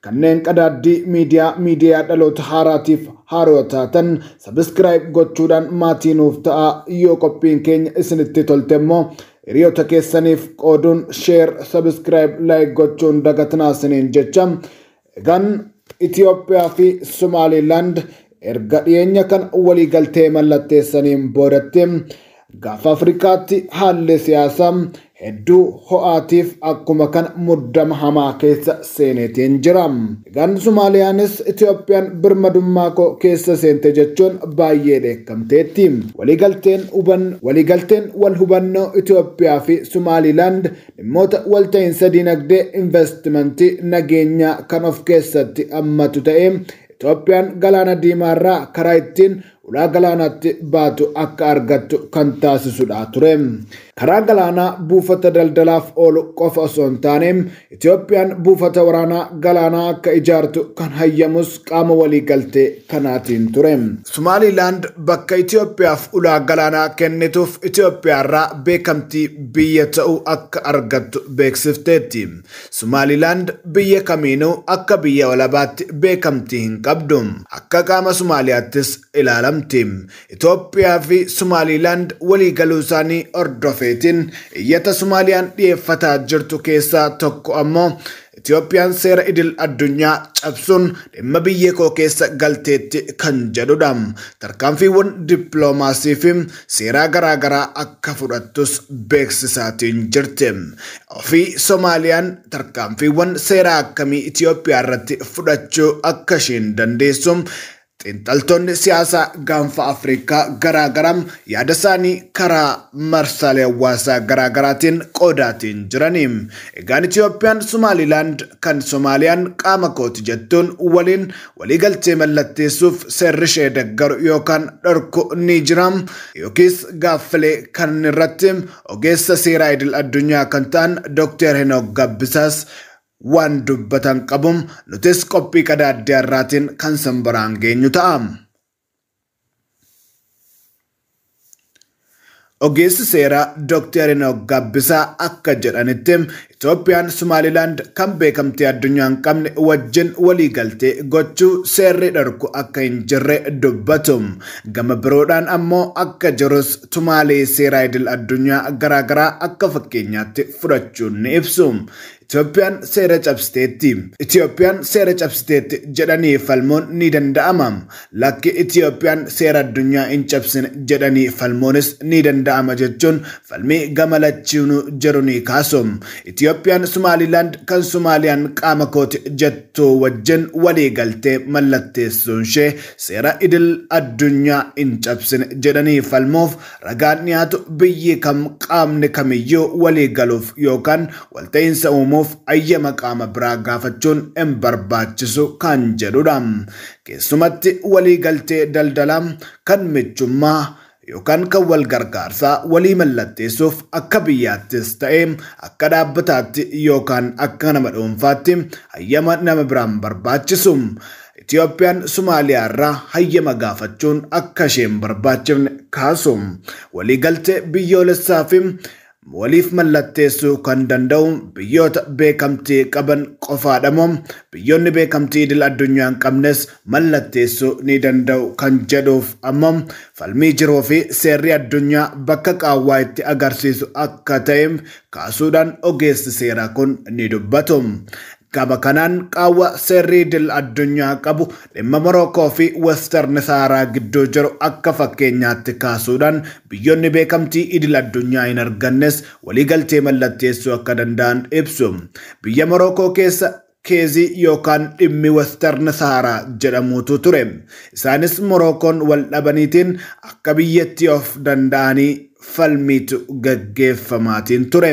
Kanneen qadaaddii miidiyaa miidiyaa dhaloota haaraatiif haaroo taatan subscribe gochuudhaan maatii nuuf ta'aa yoo qophiin keenya isinitti tolte immoo hiriyoota keessaniif qooduun share subscribe like gochuun dagatinaa isiniin jecha egaan Itoophiyaa fi Somaaliilaand erga dhiyeenya kan waliigaltee mallatteessaniin boodatti Gaafa Afrikaatti haalli siyaasaa hedduu ho'aatiif akkuma kan muddama hamaa keessa seeneetiin jira. Egaan Somaaliyaanis Itoophiyaan birmadummaa koo keessa seente jechuun baay'ee dheekkamteetti. Waliigalteen huban waliigalteen wal hubannoo Itoophiyaa fi Somaalilaand dhimmoota walta'iinsa diinagdee, investimentii, nageenyaa kan of keessatti hammatu ta'ee Itoophiyaan galaana diimaarraa karaa ittiin ulaa galaanaatti baatu akka argattu kan taasisudha ture. Karaa galaanaa buufata daldalaaf oolu qofa osoo hin taane Itoophiyaan buufata waraanaa galaanaa akka ijaartu kan hayyamus qaama waliigaltee kanaatiin ture. Somaaliilaand bakka Itoophiyaaf ulaa galaanaa kennituuf Itoophiyaarraa beekamtii biyya ta'uu akka argattu beeksifteetti. Sumaalilaand biyya kamiinuu akka biyya walabaatti beekamtii hin qabdu. Akka qaama Sumaaliyaattis ilaalamti. Itoophiyaa fi Sumaalilaand walii galuusaanii hordofeetiin iyyata Sumaaliyaan dhiyeeffataa jirtu keessaa tokko ammoo Itoophiyaan seera idil addunyaa cabsuun dhimma biyyee koo keessa galteetti kan jedhudha. Tarkaanfiiwwan dippiloomaasii fi seeraa garaagaraa akka fudhattus beeksisaatiin jirti. fi Somaaliyaan tarkaanfiiwwan seeraa akkamii Itoophiyaa irratti fudhachuu akka isheen dandeessu xiinxaltoonni siyaasaa gaanfa Afrikaa garaagaraa yaada isaanii karaa marsaalee hawaasaa garaagaraatiin qoodaatiin jirani. Egaan Itoophiyaan Somaalilaand kan Somaaliyaan qaama kooti jettuun waliin waliigaltee mallatteessuuf seerri ishee deggaru yookaan dhorku ni jira yookiis gaaffilee kan irratti Ogeessa seeraa idil addunyaa kan ta'an Doktar Henook Gabbisaas waan dubbatan qabu. Nutis qophii qadaaddee har'aatiin kan sin biraan geenyu ta'a. Ogeessi seeraa Doktar Henook Gabbisaa akka jedhanitti Itoophiyaan Sumaalilaand kan beekamtii addunyaa hin qabne wajjin waliigaltee gochuu seerri dhorku akka hin jirre dubbatu. Gama biroodhaan ammoo akka jirus tumaalee seeraa idil addunyaa garaagaraa akka fakkeenyaatti fudhachuun ni ibsu. Itoophiyaan seera cabsiteetti. Itoophiyaan seera cabsiteetti jedhanii falmuun ni danda'ama. Lakki Itiyoophiyaan seera addunyaa hin cabsine jedhanii falmuunis ni danda'ama jechuun falmii gama lachiinuu jiru ni kaasu. Itiyoophiyaan Sumaaliilaand kan Sumaaliyaan qaama kooti jettu wajjin waliigaltee mallatteessuunshee seera idil addunyaa hin cabsine jedhanii falmuuf ragaan dhiyaatu biyyi kam qaamni kamiyyuu waliigaluuf yookaan walta'iinsa uumuuf ayyama qaama biraa gaafachuun hin barbaachisu kan jedhudha. Keessumatti walii galtee daldalaa, kan michummaa, yookaan kan wal gargaarsaa walii mallatteessuuf akka biyyaattis ta'ee akka dhaabbataatti yookaan akka nama dhuunfaatti hayyama nama biraa hin barbaachisu. Itiyoophiyaan Sumaaliyaarraa hayyama gaafachuun akka ishee hin barbaachifne kaasu. Walii galtee biyyoolessaafi waliif mallatteessuu kan danda'u biyyoota beekamtii qaban qofaadhamoo biyyoonni beekamtii idil addunyaa hin qabnes mallatteessuu ni danda'u kan jedhuuf ammoo falmii jiruufi seerri addunyaa bakka qaawwaa itti agarsiisu akka ta'e kaasuudhaan ogeessi seeraa kun ni dubbatu. Gama kanaan qaawwa seerri idil addunyaa qabu dhimma Morookoo fi Western Sahaaraa gidduu jiru akka fakkeenyaatti kaasuudhaan biyyoonni beekamtii idil addunyaa hin argannes waliigaltee mallatteessuu akka danda'an ibsu. Biyya Morookoo keessa keezii yookaan dhimmi Western Sahaaraa jedhamuutu ture. Isaanis Morookoon wal dhabaniitiin akka biyyatti of danda'anii falmiitu gaggeeffamaatiin ture.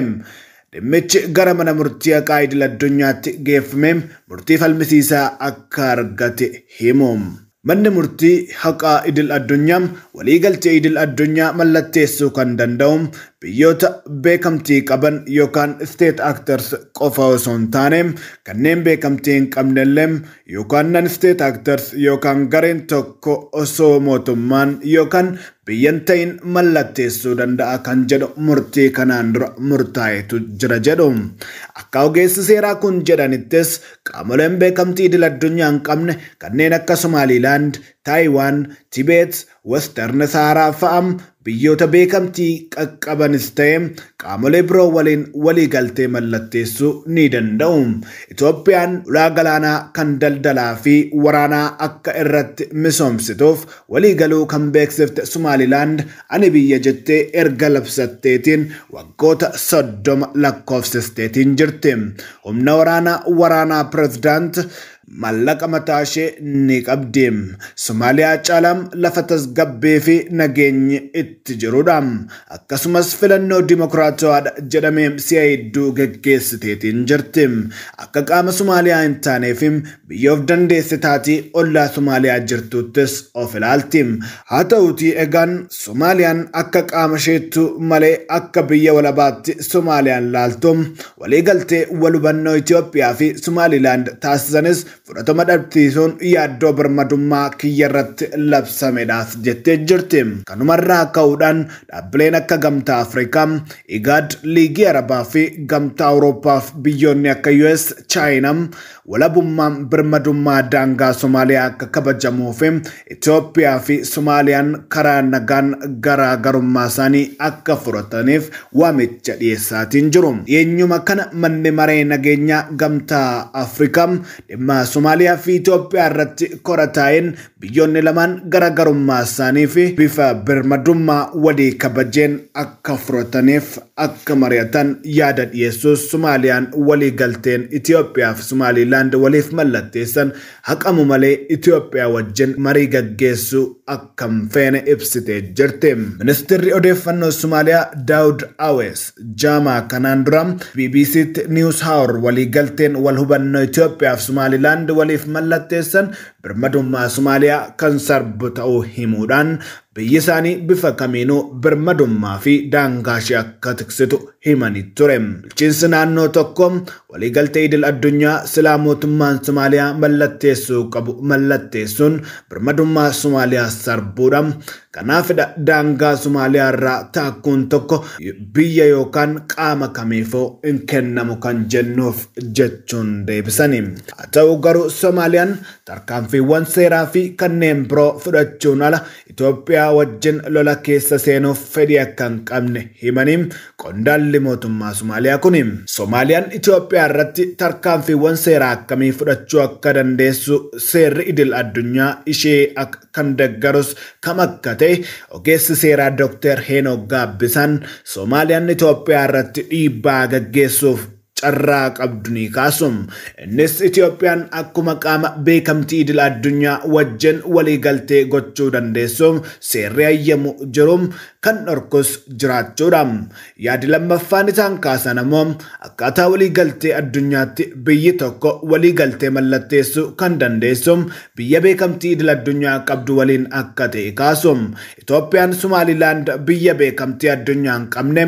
dhimmichi gara mana murtii haqaa idil addunyaatti geeffamee murtii falmisiisaa akka argate himu. Manni murtii haqaa idil addunyaa waliigaltee idil addunyaa mallatteessuu kan danda'u biyyoota beekamtii qaban yookaan state actors qofa osoo hin taane kanneen beekamtii hin qabnellee yookaan non state actors yookaan gareen tokko osoo mootummaan yookaan biyya hin ta'in mallatteessuu danda'a kan jedhu murtii kanaan dura murtaa'etu jira jedhu. Akka ogeessi seeraa kun jedhanittis qaamoleen beekamtii idil addunyaa hin qabne kanneen akka Somaaliilaand, Taayiwaan, Tibeet, Western Sahaaraa fa'a biyyoota beekamtii qaqqabanis ta'e qaamolee biroo waliin waliigaltee mallatteessuu ni danda'u. Itoophiyaan ulaa galaanaa kan daldalaa fi waraanaa akka irratti misoomsituuf waliigaluu kan beeksifte Sumaalilaand ani biyya jettee erga labsatteetiin waggoota 30 lakkoofsisteetiin jirti. Humna waraanaa waraanaa Pirezidaant Maallaqa mataashee ni qabdi. Somaaliyaa caalaa lafa tasgabbiifi nageenyi itti jirudha. Akkasumas filannoo dimokiraatawaadha jedhame si'a hedduu geggeessiteetiin jirti. Akka qaama Somaaliyaa hin taaneefi biyya of dandeesse taatii ollaa Somaaliyaa jirtuuttis of ilaalti. Haa ta'uutii egaan Somaaliyaan akka qaama isheettuu malee akka biyya walabaatti Somaaliyaan laaltu Waliigaltee walhubannoo Itoophiyaa fi Somaalilaand taasisanis fudhatama dhabsiisuun yaaddoo birmadummaa kiyyarratti labsamedhas jettee jirti. Kanumarraa ka'uudhaan dhaabbileen akka Gamtaa Afrikaa, IGAD, Liigii Arabaa fi Gamtaa Awurooppaaf biyyoonni akka US, Chaayinaa, Walabummaan birmadummaa daangaa Somaaliyaa akka kabajamuu fi Itoophiyaa fi Somaaliyaan karaa nagaan garaa garummaa isaanii akka furataniif waamicha dhiyeessaatiin jiru. Dhiyeenyuma kana manni maree nageenyaa gamtaa Afrikaa dhimma Somaaliyaa fi Itoophiyaa irratti kora taa'een Biyyoonni lamaan garagarummaa isaanii fi bifa birmadummaa walii kabajeen akka furataniif akka mari'atan yaada dhiyeessuus Somaaliyaan waliigalteen Itiyoophiyaa fi Somaaliilaand waliif mallatteessan haqamu malee Itiyoophiyaa wajjin marii gaggeessuu akka hin feene ibsitee jirti. Ministirri Odeeffannoo Somaaliyaa Daawud Awees jaamaa kanaan dura BBC'tti News Hour waliigalteen wal hubannoo Itiyoophiyaa fi Somaaliilaand waliif mallatteessan birmadummaa Somaaliyaa kan sarbu ta'uu himuudhaan biyyi isaanii bifa kamiinuu birmadummaa fi daangaa ishee akka tiksitu himanii ture. Bulchiinsi naannoo tokko waliigaltee idil addunyaa silaa mootummaan Somaaliyaa mallatteessuu qabu mallatteessuun birmadummaa Somaaliyaa sarbuudha. Kanaafidha daangaa Somaaliyaa irraa taakkuun tokko biyya yookaan qaama kamiifuu hin kennamu kan jennuuf jechuun deebisani. Haa ta'u garuu Somaaliyaan tarkaanfiiwwan seeraa fi kanneen biroo fudhachuun ala Itoophiyaa wajjin lola keessa seenuuf fedhii akka hin qabne himanii, Qondaalli mootummaa Somaaliyaa kuni Somaaliyaan Itoophiyaa irratti tarkaanfiiwwan seeraa akkamii fudhachuu akka dandeessu seerri idil addunyaa ishee ak kan deggarus kam akka ta'e ogeessi seeraa Doktar Heenook Gaabbisaan Somaaliyaan Itoophiyaa irratti dhiibbaa gaggeessuuf carraa qabdu ni kaasu. Innis Itoophiyaan akkuma qaama beekamtii idil addunyaa wajjin waliigaltee gochuu dandeessu seerri hayyamu jiru kan dhorkus jiraachuudha. Yaadi lammaffaan isaan kaasan ammoo akkaataa waliigaltee addunyaatti biyyi tokko waliigaltee mallatteessuu kan dandeessu biyya beekamtii idil addunyaa qabdu waliin akka ta'e kaasu. Itoophiyaan Sumaalilaand biyya beekamtii addunyaa hin qabne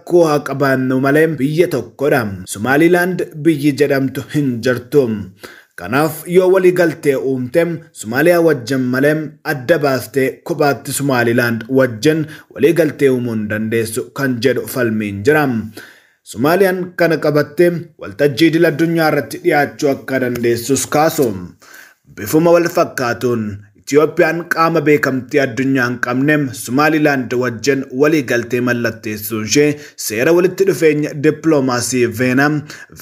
rakkoo haa qabaannu malee biyya tokkodha. Somaaliilaand biyyi jedhamtu hin jirtu. Kanaaf yoo walii galtee uumte Somaaliyaa wajjin malee adda baastee kophaatti Somaaliilaand wajjin walii galtee uumuu hin dandeessu kan jedhu falmiin jira. Somaaliyaan kana qabattee waltajjii idil addunyaa irratti dhiyaachuu akka dandeessus kaasu. Bifuma wal fakkaatuun Itiyoophiyaan qaama beekamtii addunyaa hin qabne Somaalilaand wajjin waliigaltee mallatteessuunshee seera walitti dhufeenya dippiloomaasii Veenaa,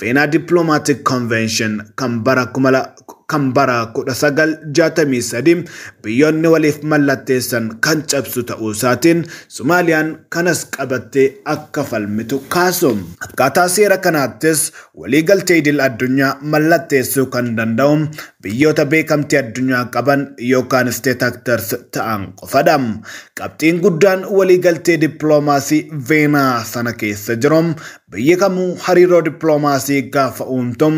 Vienna Diplomatic Convention, kan bara 1963 biyyoonni waliif mallatteessan kan cabsu ta'uusaatiin Somaaliyaan kanas qabattee akka falmitu kaasu. Akkaataa seera kanaattis waliigaltee idil addunyaa mallatteessuu kan danda'u Biyyoota beekamtii addunyaa qaban yookaan state actors ta'an qofadha. Qabxiin guddaan waliigaltee dippiloomaasii Veenaa sana keessa jiru biyyi kamuu hariiroo dippiloomaasii gaafa uumtu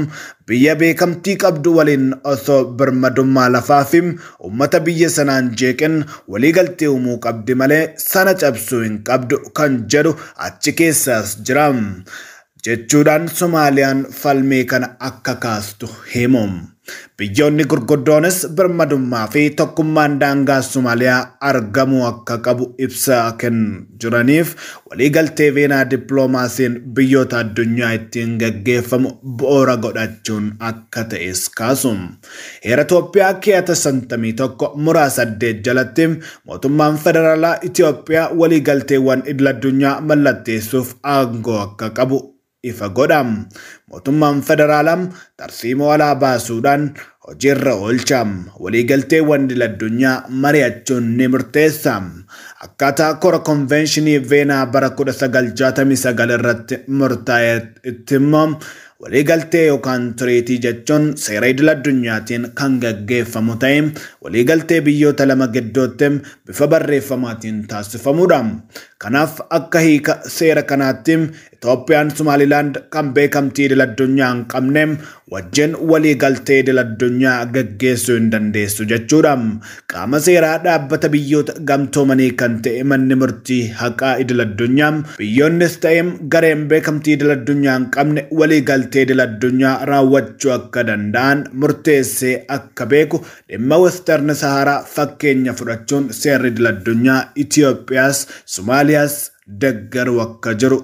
biyya beekamtii qabdu waliin osoo birmadummaa lafaa fi uummata biyya sanaan jeeqin waliigaltee uumuu qabdi malee sana cabsuu hin qabdu kan jedhu achi keessaas jira. jechuudhaan Somaaliyaan falmii kana akka kaastu himu. Biyyoonni gurguddoonis birmadummaa fi tokkummaan daangaa Somaaliyaa argamuu akka qabu ibsa kan jiraniif waliigaltee Veenaa dippiloomaasiin biyyoota addunyaa ittiin gaggeeffamu bu'uura godhachuun akka ta'es kaasu. Heera Itoophiyaa keeyata 51 muraa 8 jalatti mootummaan federaalaa Itoophiyaa waliigalteewwan idil-addunyaa mallatteessuuf aangoo akka qabu ifa godha. Mootummaan federaalaa tarsiimoo alaa baasuudhaan hojiirra oolcha. Waliigalteewwan idil-addunyaa mari'achuun ni murteessa. Akkaataa kora konveenshinii Veenaa bara 1969 irratti murtaa'etti immoo Waliigaltee yookaan tiriitii jechuun seera idil-addunyaatiin kan gaggeeffamu ta'ee, waliigaltee biyyoota lama gidduutti bifa barreeffamaatiin taasifamuudha. Kanaaf, akka hiika seera kanaatti, Itoophiyaan Somaalilaand kan beekamtii idil-addunyaa hin qabne wajjin waliigaltee idil-addunyaa gaggeessuu hin dandeessu jechuudha. Qaama seeraa Dhaabbata Biyyoota Gamtoomanii kan ta'e Manni Murtii Haqaa Idil-addunyaa, biyyoonnis ta'e gareen beekamtii idil-addunyaa hin qabne waliigaltee idil-addunyaa raawwachuu akka danda'an murteessee akka beeku dhimma Western Sahara fakkeenya fudhachuun seerri idil-addunyaa Itoophiyaas, Somaaliyaas deggaruu akka jiru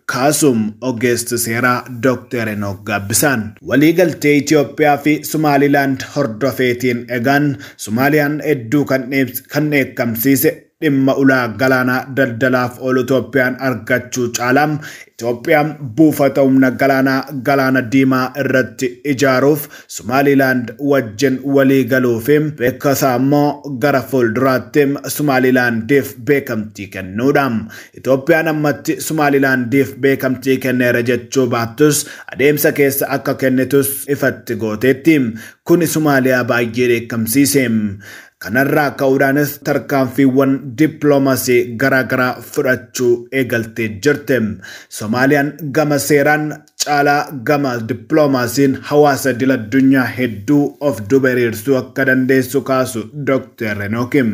Kaasum Ogeessi Seeraa Dokteer Henook Gaabbisaan. Waliigaltee Itiyoophiyaa fi Sumaalilaand hordofeetiin egaan Sumaaliyaan hedduu kan dheebse, kan dheekkamsiise dhimma ulaa galaanaa daldalaaf oolu Itoophiyaan argachuu caalaa Itoophiyaan buufata humna galaanaa Galaana Diimaa irratti ijaaruuf Sumaalilaand wajjin waliigaluu fi beekasaa immoo gara fuulduraatti Sumaalilaandiif beekamtii kennuudha. Itoophiyaan ammatti Sumaalilaandiif beekamtii kenneera jechuu baattus adeemsa keessa akka kennitus ifatti gooteetti. Kuni Sumaaliyaa baay'ee dheekkamsiise. Kanarraa ka'uudhaanis tarkaanfiiwwan dippiloomasii garaagaraa fudhachuu eegaltee jirti. Somaaliyaan gama seeraan caalaa gama dippiloomaasiin hawaasa idil addunyaa hedduu of duuba hiriirsuu akka dandeessu kaasu Doktar Henooki.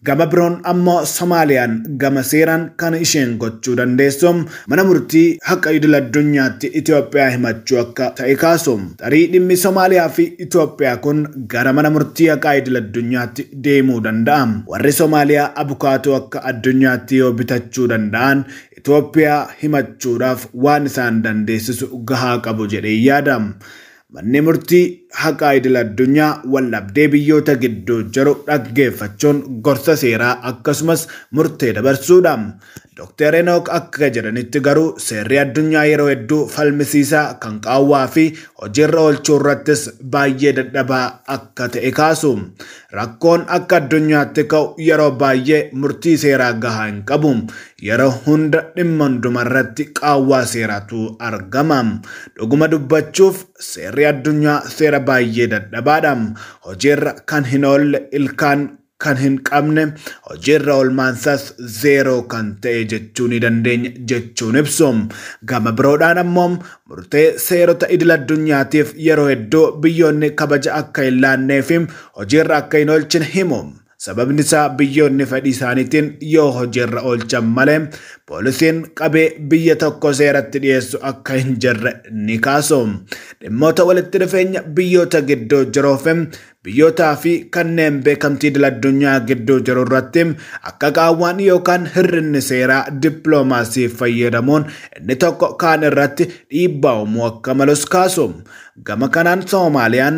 Gama biroon ammoo Somaaliyaan gama seeraan kan isheen gochuu dandeessu mana murtii haqa idil addunyaatti Itoophiyaa himachuu akka ta'e kaasu. Tarii dhimmi Somaaliyaa fi Itoophiyaa kun gara mana murtii haqaa idil addunyaatti deemuu danda'a. Warri Somaaliyaa abukaatoo akka addunyaatti yoo bitachuu danda'an Itoophiyaa himachuudhaaf waan isaan dandeessisu gahaa qabu jedheen yaada. Manni Murtii Haqaa Idil-addunyaa waldhabdee biyyoota gidduu jiru dhaggeeffachuun gorsa seeraa akkasumas murtee dabarsuudha. Doktar Henook akka jedhanitti garuu seerri addunyaa yeroo hedduu falmisiisaa, kan qaawwaa fi hojiirra oolchuu irrattis baay'ee dadhabaa akka ta'e kaasu. Rakkoon akka addunyaatti ka'u yeroo baay'ee murtii seeraa gahaa hin qabu. Yeroo hunda dhimma hundumarratti qaawwaa seeraatu argama. Dhuguma dubbachuuf seerri addunyaa seera baay'ee dadhabaadha. Hojiirra kan hin oolle, ilkaan kan hin qabne, hojiirra oolmaansaas zeeroo kan ta'e jechuu ni dandeenya jechuun ibsu. Gama biroodhaan ammoo murtee seerota idil-addunyaatiif yeroo hedduu biyyoonni kabaja akka hin laanneefi hojiirra akka hin oolchine himu. Sababni isaa biyyoonni fedhii isaaniitiin yoo hojiirra oolchan malee poolisiin qabee biyya tokko seeratti dhiyeessu akka hin jirre ni kaasu. Dhimmoota walitti dhufeenya biyyoota gidduu jiruu fi biyyootaa fi kanneen beekamtii idil addunyaa gidduu jiru irratti akka qaawwaan yookaan hir'inni seeraa dippiloomaasii fayyadamuun inni tokko kaan irratti dhiibbaa uumuu akka malus kaasu. Gama kanaan Soomaaliyaan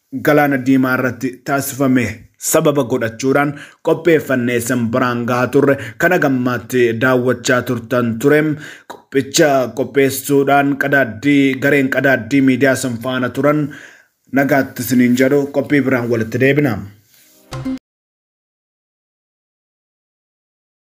Galaana Diimaa irratti taasifame sababa godhachuudhaan qopheeffannee isin biraan gahaa turre kan hagammaatti daawwachaa turtan ture. Qophicha qopheessuudhaan qadaaddii gareen qadaaddii miidiyaa isin faana turan nagaatti isiniin jedhu qophii biraan walitti deebina.